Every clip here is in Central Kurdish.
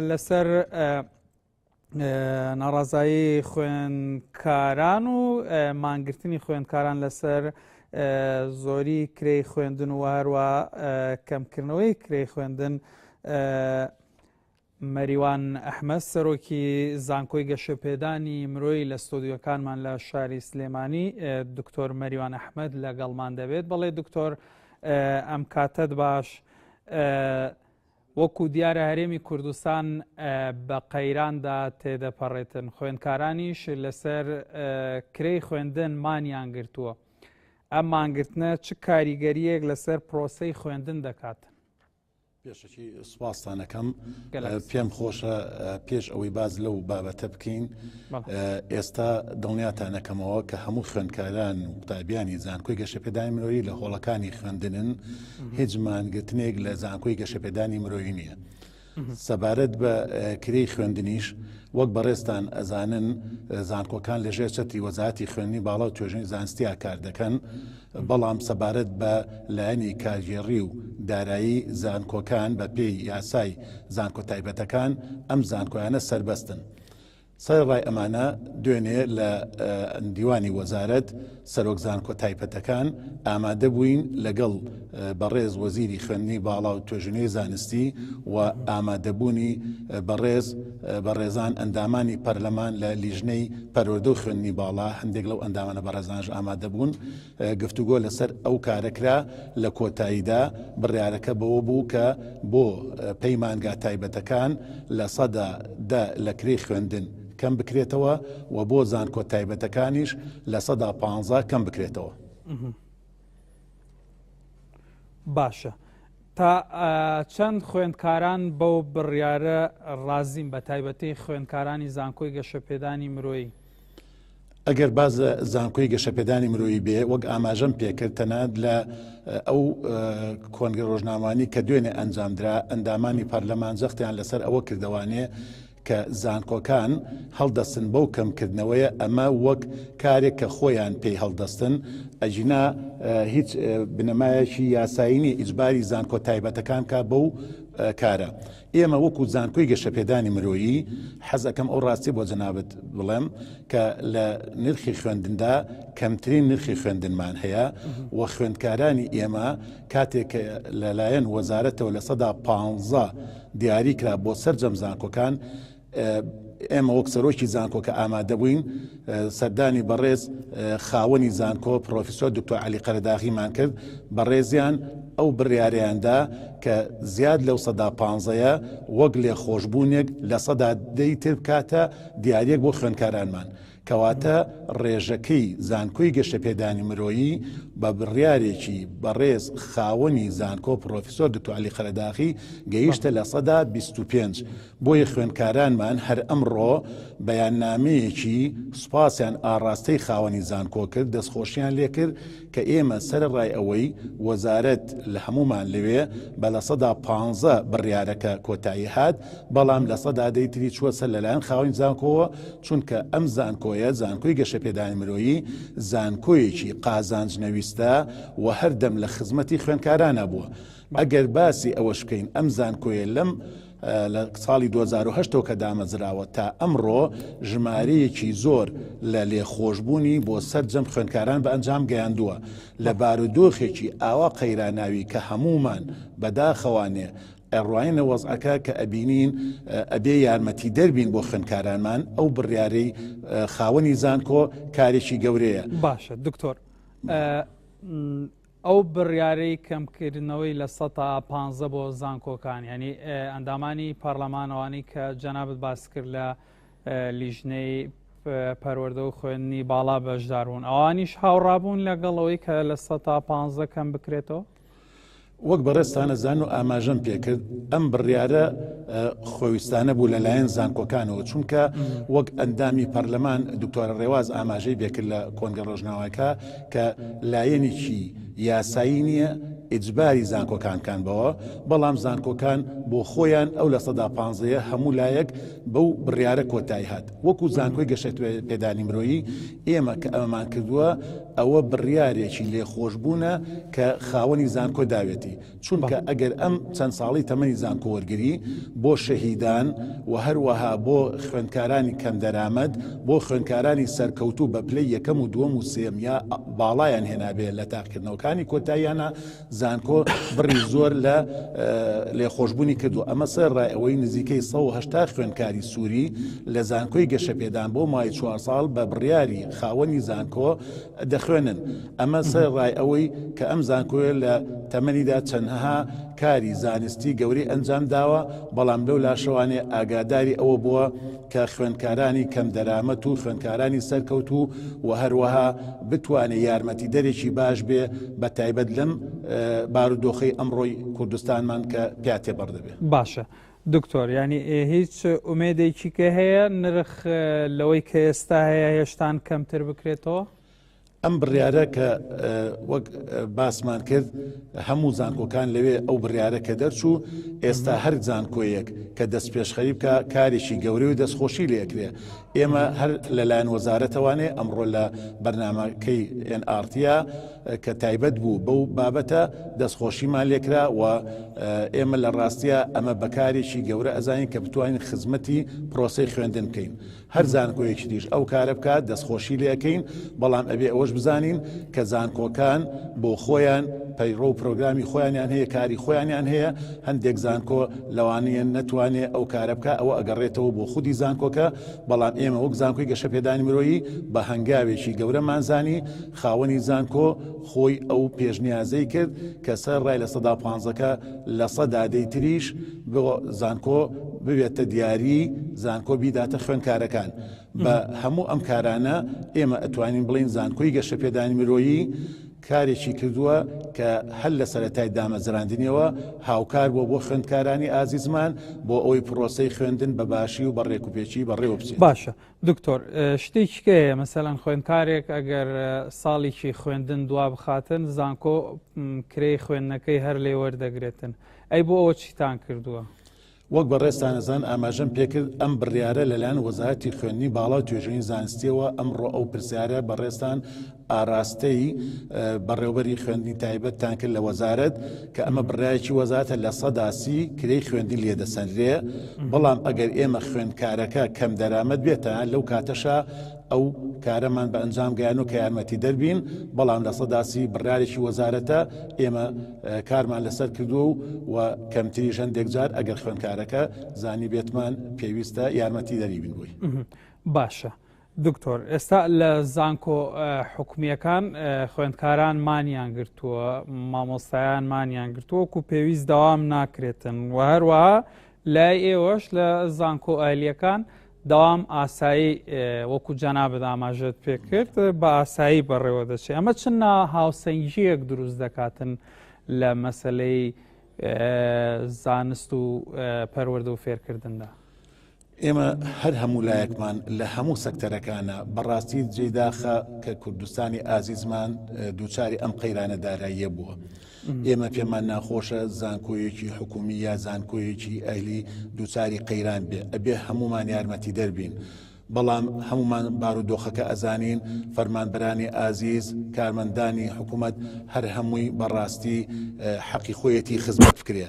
لەسەر ناڕازایی خوێنکاران و مانگرتنی خوێندکاران لەسەر زۆری کرێی خوێندن و هەروە کەمکردنەوەی کرێی خوێندن مەریوان ئەحمە سەرۆکی زانکۆی گەشەپێدانی مرۆی لە ستۆدیۆکانمان لە شاری سلێمانی دکتۆر مەریوان ئەحمد لەگەڵمان دەبێت بەڵێ دکتۆر ئەم کاتت باش وەکو دیارە هەرێمی کوردستان بە قەیراندا تێدەپەڕێتن، خوێندکارانیش لەسەر کرێی خوێندن مانیان گرتووە. ئەم مانگرتنە چ کاریگەریەک لەسەر پرۆسەی خوێندن دەکات؟ پێشەکی سوپاستانەکەم پێم خۆشە پێش ئەوەی باز لەو بابەتە بکەین ئێستا دڵنیاتان نەکەمەوە کە هەموو خوێندکاران و قوتابیانی زانکۆی گەشەپێدانی مرۆیی لە هۆڵەکانی خوێندنن هیچ مانگرتنێک لە زانکۆی گەشەپێدانی مرۆیی نییە. سەبارەت بە کرێی خوێندنیش وەک بەڕێستان ئەزانن زانکۆکان لەژێر چەتی وەزاتی خوێنی باڵا و توێژنی زانستیا کار دەکەن بەڵام سەبارەت بە لایەنی کارگێڕی و دارایی زانکۆکان بە پێی یاسای زانکۆ تایبەتەکان ئەم زانکۆیانە سربەستن. سەرەڕای ئەمانە، دوێنێ لە دیوانی وەزارەت، سەرۆک زانکۆ تایپەتەکان ئامادەبووین لەگەڵ بەڕێز وەزیری خوێندنی باڵا و توێژینەوەی زانستی و ئامادەبوونی بەڕێز بەڕێزان ئەندامانی پەرلەمان لە لیژنەی پەروەردە و خوێندنی باڵا هەندێک لەو ئەندامانە بەڕێزانش ئامادەبوون گفتوگۆ لەسەر ئەو کارە کرا، لە کۆتاییدا بڕیارەکە بەوە بوو کە بۆ پەیمانگا تایبەتەکان لە سەدا دە لە کرێی خوێندن کەم بکرێتەوە و بۆ زانکۆ تایبەتەکانیش لە سەدا پانزە کەم بکرێتەوە. باشە تا چەند خوێندکاران بەو بڕیارە ڕازیم بە تایبەتی خوێندکارانی زانکۆی گەشەپێدانی مرۆیی؟ ئەگەر باز لە زانکۆی گەشەپێدانی مرۆیی بێ وەک ئاماژەم پێکرد تەنات لە ئەو کۆنگە ڕۆژنامانی کە دوێنێ ئەنجامدرا ئەندامانی پەرلەمان زەختیان لەسەر ئەوە کردوانێ کە زانکۆکان هەڵدەستن بەو کەمکردنەوەیە ئەمە وەک کارێک کە خۆیان پێی هەڵدەستن ئەجینا هیچ بنەمایەکی یاسایینی ئیجباری زانکۆ تایبەتەکان کا بەو کارە ئێمە وەکو زانکۆی گەشەپێدانی مرۆیی حەز ئەکەم ئەو ڕاستیە بۆ جەنابەت بڵێم کە لە نرخی خوێندندا کەمترین نرخی خوێندنمان هەیە و خوێندکارانی ئێمە کاتێک لەلایەن وەزارەتەوە لە سەدا پ دیاری کرا بۆ سەررجەم زانکۆکان ئێمە وەک سەرۆکی زانکۆ کە ئامادە بووین سەردانی بەڕێز خاوەنی زانکۆ پرۆفیسۆر دکتۆر علی قەرداغیمان کرد بەڕێزیان ئەو بڕیارەیاندا کە زیاد لەو سەدا پانزەیە وەک لێ خۆشببوونێک لە سەدا دەی تر بکاتە دیارەک بۆ خوێندکارانمان کەواتە ڕێژەکەی زانکۆی گەشەپێدانی مرۆیی بە بڕیارێکی بەڕێز خاوەنی زانکۆ پڕۆفیسۆر دکتۆر عەلی قەرەداخی گەیشتە لە سەدا بیست و پێنج، بۆیە خوێندکارانمان هەر ئەمڕۆ بەیاننامەیەکی سوپاسیان ئاڕاستەی خاوەنی زانکۆ کرد، دەستخۆشییان لێکرد، کە ئێمە سەرەڕای ئەوەی وەزارەت لە هەموومان لەوێ بە لە سەدا پانزە بڕیارەکە کۆتایی هات، بەڵام لە سەدا دەی تری چووە سەر لەلایەن خاوەنی زانکۆوە، چونکە ئەم زانکۆیە زانکۆی گەشەپێدانی مرۆیی، زانکۆیەکی قازانج نەویستە و هەردەم لە خزمەتی خوێندکارانە بووە. ئەگەر باسی ئەوەش بکەین ئەم زانکۆیە لەم. لە ساڵی دوو هەزار و هەشت کە دامەزراوە تا ئەمڕۆ ژمارەیەکی زۆر لە لێخۆشببوونی بۆ سەرجەم خوێندکاران بە ئەنجام گەیاندووە لە بارودۆخێکی ئاوا قەیراناوی کە هەمومان بەداخەوانێ ئەڕواینە وەزعەکە کە ئەبینین ئەبێ یارمەتی دەربین بۆ خوێندکارانمان ئەو بڕیارەی خاوەنی زانکۆ کارێکی گەورەیە باشە دکتۆر ئەو بڕیارەی کەمکردنەوەی لە سە تا پانزە بۆ زانکۆکان ینی ئەندامانی پارلەمانەوانی کە جەنابەت باس کرد لە لیژنەی پەروەەردە و خوێندنی باڵا بەشداربوون ئەوانیش هاوڕابوون لەگەڵەوەی کە لە سە تا پ کەم بکرێتەوە وەک بەڕێستانە زان و ئاماژەم پێکرد ئەم بڕیارە خۆویستانە بوو لەلایەن زانکۆکانەوە چونکە وەک ئەندامی پەرلەمان دکتۆرە ڕێواز ئاماژەی بێکرد لە کۆنگە ڕۆژناوەکە کە لایەنێکی یاسایی نییە ئیجباری زانکۆکان کان بەوە، بەڵام زانکۆکان بۆ خۆیان ئەو لە سەدا پانزەیە هەموو لایەک بەو بڕیارە کۆتایی هات. وەکو زانکۆی گەشەپێدانی مرۆیی ئێمە کە ئەمەمان کردووە ئەوە بڕیارێکی لێخۆشبوونە کە خاوەنی زانکۆ داوێتی. چونکە ئەگەر ئەم چەند ساڵەی تەمەنی زانکۆوەرگری بۆ شەهیدان و هەروەها بۆ خوێندکارانی کەمدەرامەت بۆ خوێندکارانی سەرکەوتوو بە پلەی یەکەم و دووەم و سێم یا باڵایان هێنابێ لە تاقیکردنەوەکانی کۆتاییانە زانکۆ بڕی زۆر لە لێخۆشببوونی کردو ئەمە سەر ڕای ئەوەی نزیکەی 1970 خوێندکاری سووری لە زانکۆی گەشەپێدان بۆ مای چوار ساڵ بە بڕیاری خاوەنی زانکۆ دەخوێنن، ئەمە سەر ڕای ئەوەی کە ئەم زانکۆیە لە تەمەنیدا چەندهها کاری زانستی گەورەی ئەنجام داوە، بەڵام لەو لاشەوانێ ئاگاداری ئەوە بووە کە خوێندکارانی کەم دەرامەت و خوێندکارانی سەرکەوتوو و هەروەها بتوانێ یارمەتیدەرێکی باش بێ بە تایبەت لەم بارودۆخەی ئەمڕۆی کوردستانمان کە پیا تێپەڕ دەبێ. باشە دکتۆر یانی ئێ هیچ ئومێدێکی کە هەیە نرخ لەوەی کە ئێستا هەیە هێشتان کەمتر بکرێتەوە؟ ئەم بڕیارە کە وەک باسمان کرد هەموو زانکۆکان لەوێ ئەو بڕیارە کە دەرچوو ئێستا هەر زانکۆیەک کە دەست پێشخەری بکە کارێکی گەورەی و دەستخۆشی لێکرێ ئێمە هەر لەلایەن وەزارەتەوانێ ئەمڕۆ لە بەرنمەکەی ئێن ئارتیا کە تایبەت بوو بەو بابەتە دەستخۆشیمان لێکرا و ئێمە لە ڕاستە ئەمە بەکارێکی گەورە ئەزانین کە بتوانین خزمەتی پرۆسی خوێندن بکەین هەر زانکۆیەکی دیش ئەو کارە بکات دەستخۆشی لەکەین بەڵام ئەبێ ئەوەش بزانین کە زانکۆکان بۆ خۆیان پەیڕۆ و پرۆگرامی خۆیانیان هەیە کاری خۆیانیان هەیە هەندێک زانکۆ لەوانیە نەتوانێ ئەو کارە بکا ئەوە ئەگەڕێتەوە بۆ خودی زانکۆکە، بەڵام ئێمە وەک زانکۆی گەشەپێدانی مرۆیی بە هەنگاوێکی گەورەمان زانی، خاوەنی زانکۆ خۆی ئەو پێشنیازەی کرد کە سەر ڕای لە سەدا پانزە کە لە سە دادەی تریش بۆ زانکۆ ببێتە دیاری زانکۆ بیداتە خوێنکارەکان بە هەموو ئەم کارانە ئێمە ئەتوانین بڵین زانکۆی گەشەپێدانی مرۆیی کارێکی کردووە کە هەر لە سەرەتای دامەزراندنیەوە هاوکار بووە بۆ خوێندکارانی ئازیزمان بۆ ئەوەی پڕۆسەی خوێندن بە باشی و بە ڕێکوپێکی بەڕێوە بچێت باشە دکتۆر شتێکیکەیە مەسەلەن خوێندکارێک ئەگەر ساڵیکی خوێندن دوا بخاتن زانکۆ کرێی خوێندنەکەی هەر لێ وەردەگرێتن ئەی بۆ ئەوە چیتان کردووە؟ وەک بەڕێزتان ئەزان ئاماژەم پێکرد ئەم بڕیارە لەلایەن وەزارەتی خوێندنی باڵا و توێژینی زانستیەوە ئەمڕۆ ئەو پرسیارە بەڕێزتان ئاراستەی بەڕێوبەری خوێندنی تایبەتتان کرد لە وەزارەت کە ئەمە بڕایەکی وەزاتە لە سەداسی کرێی خوێندی لێ دەسەنرێ بەڵام ئەگەر ئێمە خوێندکارەکە کەم دەرامەت بێتە لەو کاتەشە ئەو کارەمان بە ئەنجام گەیانو کە یارمەتیدەر بین، بەڵام لە سەدا سی بڕیارێکی وەزارەتە، ئێمە کارمان لەسەر کردووەو و کەمتریش هەندێک جار ئەگەر خوێندکارەکە زانیبێتمان پێویستە یارمەتیدەری بین بۆی. باشە دکتۆر ئێستا لە زانکۆ حکومییەکان خوێندکاران مانیان گرتووە مامۆستایان مانیان گرتووە و پێویست داوام ناکرێتن و هەروەها لای ئێوەش لە زانکۆ ئایلیەکان دەوام ئاسایی وەکو جەنابت ئاماژەت پێکرد بە ئاسایی بەڕێوە دەچێت ئەمە چ نا هاوسەنگیەک دروست دەکاتن لە مەسلەی زانست و پەروەەردە و فێرکردندا ئێمە هەر هەموو لایەکمان لە هەموو سەکتەرەکانە بەڕاستی جێداخە کە کوردستانی ئازیزمان دووچاری ئەم قەیرانە داراییە بووە. ئێمە پێمان ناخۆشە زانکۆیەکی حکومی یا زانکۆیەکی ئەهلی دووچاری قەیران بێ ئەبێ هەمومان یارمەتی دەربین. بەڵام هەمومان بارودۆخەکە ئەزانین فەرمانبەرانی ئازیز کارمەندانی حکومەت هەر هەمووی بەڕاستی حەقی خۆیەتی خزمەت بکرێ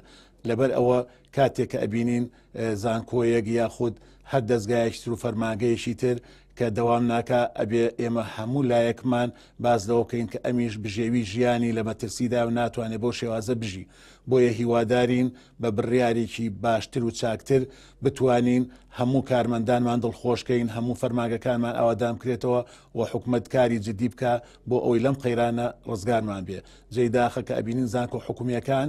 لەبەر ئەوە کاتێک کە ئەبینین زانکۆیەک یاخود هەر دەستگایەکتر و فەرماگەیەکی تر کە دەوام ناکە ئەبێ ئێمە هەموو لایەکمان باز لەوە بکەین کە ئەمیش بژێوی ژیانی لە مەترسیدا و ناتوانێت بۆ شێوازە بژی بۆیە هیوادارین بە بڕیارێکی باشتر و چاکتر بتوانین هەموو کارمەندانمان دڵخۆشکەین هەموو فەرماگەکانمان ئاوادام کرێتەوە و حکومت کاری جدی بکە بۆ ئەوی لەم قەیرانە ڕزگارمان بێ جێداخە کە ئەبینین زانکۆ حکومیەکان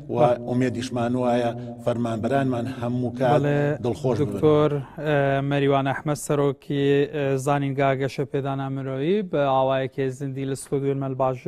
و ئومێدیشمان وایە فەرمانبەرانمان هەموو کات دڵخۆش دکتۆر مەریوان ئەحمە سەرۆکی زانینگا گەشە پێدانا مرۆیی بە ئاوایەکی زیندی لە ستۆدیۆی مەلباژێڕ